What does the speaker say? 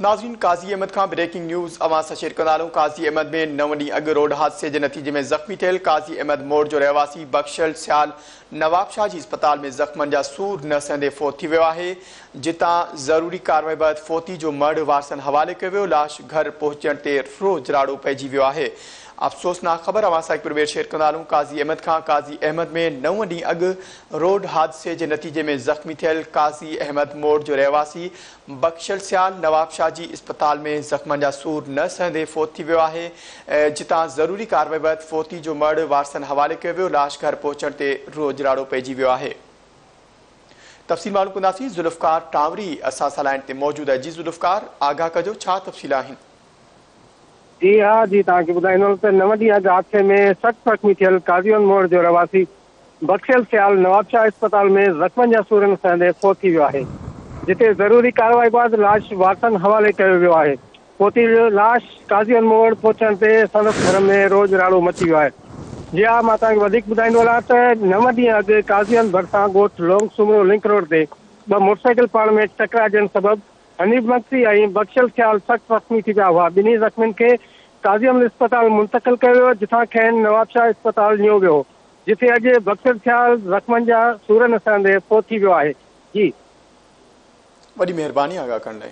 ناظرين قاضي احمد کان breaking news اوهان سان شيئر ڪندا هلون قاضي احمد ۾ نو ڏينهن اڳ روڊ حادثي جي نتيجي ۾ زخمي ٿيل قاضي احمد موڙ جو رهواسي بخشل سيال نوابشاهه جي اسپتال ۾ زخمن جا سور نه سهندي فوت ٿي ويو آهي جتان ضروري ڪارروائي بعد فوتي جو مڙهه وارثن حوالي ڪيو ويو لاش گهر پهچجڻ تي روح جراڙو پئجي ويو آهي افسوسناڪ خبر اوهان سان هڪ پير ٻير شيئر ڪندا هلون قاضي احمد کان قاضي احمد ۾ نو ڏينهن اڳ روڊ حادثي جي نتيجي ۾ زخمي ٿيل قاضي احمد موڙ جو رهواسي بخشل سيال نوابشاهه جي اسپتال ۾ زخمن جا سور نه سهندي فوت ٿي ويو آهي، جتان ضروري ڪارروائي بعد فوتي جو مڙهه وارثن حوالي ڪيو ويو، لاش گهر پهچڻ تي روح اجراڙو پئجي ويو آهي. تفصيل معلوم ڪنداسين ذوالفقار ٽانوري اسان سان لائين تي موجود آهي جي ذوالفقار آگاهه ڪجو ڇا تفصيل آهن. جي ها جي توهان کي ٻڌائيندو هلان ته نو ڏينهن اڳ حادثي ۾ سخت زخمي ٿيل قاضي اونموڙ جو رهواسي بخشيل سيال نوابشاهه اسپتال ۾ زخمن جا سورن سهندي فوت ٿي ويو آهي، جتي ضروري ڪارروائي بعد لاش وارثن حوالي ڪيو ويو آهي. فوتي جو لاش قاضي الم وٽ پهچڻ تي سندس گهر ۾ روڄ راڙو مچي ويو آهي. جي ها مان توهان کي وڌيڪ ٻڌائيندو هلان ته نو ڏينهن اڳ قاضيان ڀرسان ڳوٺ لونگ سومرو لنڪ روڊ تي ٻه موٽرسائيڪل پاڻ ۾ ٽڪرائجڻ سبب حنيف مگسي ۽ بخشيل سيال سخت زخمي ٿي پيا هئا، ٻنهي زخمين کي قاضي الم اسپتال منتقل ڪيو ويو جتان کين نوابشاهه اسپتال نيو ويو هو. جتي اڄ بخشل خيال زخمن جا سور نه سهندي فوت ٿي ويو آهي جي. وڏي مهرباني آغا ڪرڻ لاء.